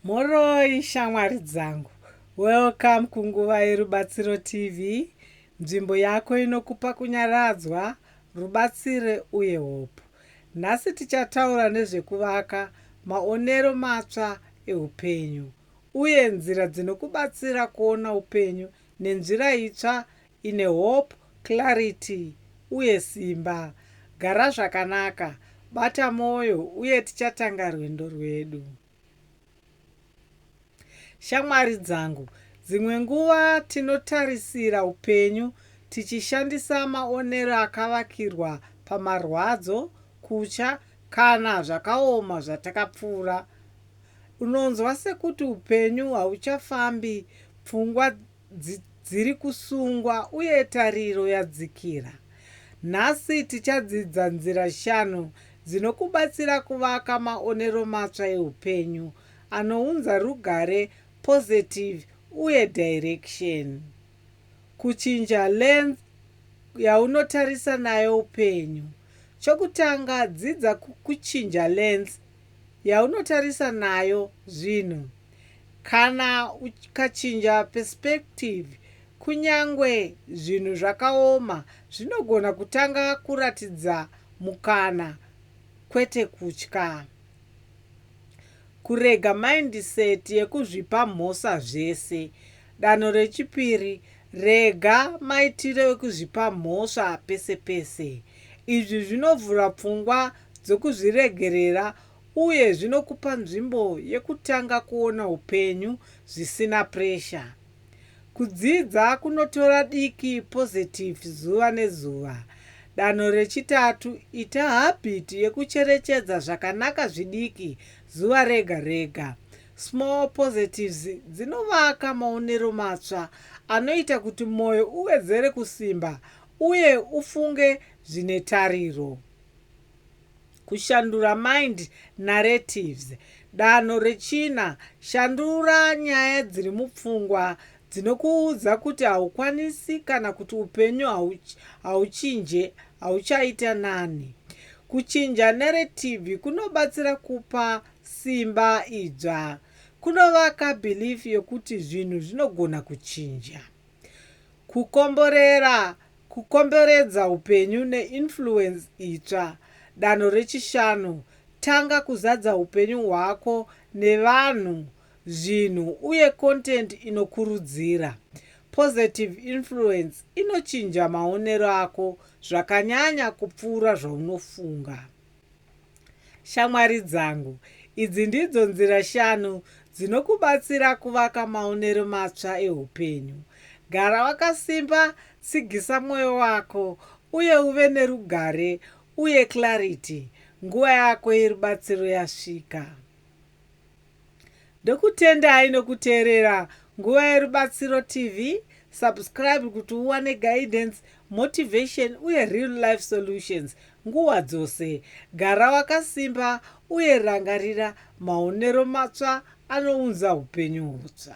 Mhoroi shamwari dzangu, welcome kunguva yeRubatsiro TV, nzvimbo yako inokupa kunyaradzwa, rubatsire uye hope. Nhasi tichataura nezvekuvaka maonero matsva eupenyu uye nzira dzinokubatsira kuona upenyu nenzira itsva Ine hope, clarity uye simba. Gara zvakanaka, bata moyo uye tichatanga rwendo rwedu. Shamwari dzangu, dzimwe nguva tinotarisira upenyu tichishandisa maonero akavakirwa pamarwadzo, kutya kana zvakaoma zvatakapfuura. Unonzwa sekuti upenyu hauchafambi, pfungwa Dzi, dziri kusungwa, uye tariro yadzikira. Nhasi tichadzidza nzira shanu dzinokubatsira kuvaka maonero matsva eupenyu anounza rugare, positive, uye direction. Kuchinja lens yaunotarisa nayo upenyu. Chokutanga, dzidza kuchinja lens yaunotarisa nayo zvinhu. Kana ukachinja perspective, kunyangwe zvinhu zvakaoma zvinogona kutanga kuratidza mukana kwete kutya. Kurega mindset yekuzvipa mhosva zvese. Danho rechipiri, rega maitiro ekuzvipa mhosva pese pese. Izvi zvinovhura pfungwa dzokuzviregerera uye zvinokupa nzvimbo yekutanga kuona upenyu zvisina pressure. Kudzidza kunotora diki positive zuva nezuva. Danho rechitatu, ita habit yekucherechedza zvakanaka zvidiki zuva rega rega. Small positives dzinovaka maonero matsva anoita kuti moyo uwedzere kusimba uye ufunge zvine tariro. Kushandura mind narratives. Danho rechina, shandura nyaya dziri mupfungwa dzinokuudza kuti haukwanisi kana kuti upenyu hauchinje, hauchaita nani. Kuchinja narrative kunobatsira kupa simba idzva. Kunovaka belief yekuti zvinhu zvinogona kuchinja. Kukomborera, Kukomberedza upenyu neinfluence itsva, danho rechishanu, Tanga kuzadza upenyu hwako nevanhu, zvinhu, uye content inokurudzira. Positive influence inochinja maonero ako zvakanyanya kupfuura zvaunofunga. Shamwari dzangu, idzi ndidzo nzira shanu dzinokubatsira kuvaka maonero matsva eupenyu. Gara wakasimba, tsigisa mwoyo wako, uye uve nerugare uye clarity. Nguva yako yerubatsiro yasvika. Ndokutendai nokuteerera Nguva yeRubatsiro TV. Subscribe kuti uwane guidance, motivation uye real life solutions nguva dzose. Gara wakasimba uye rangarira maonero matsva anounza upenyu hutsva.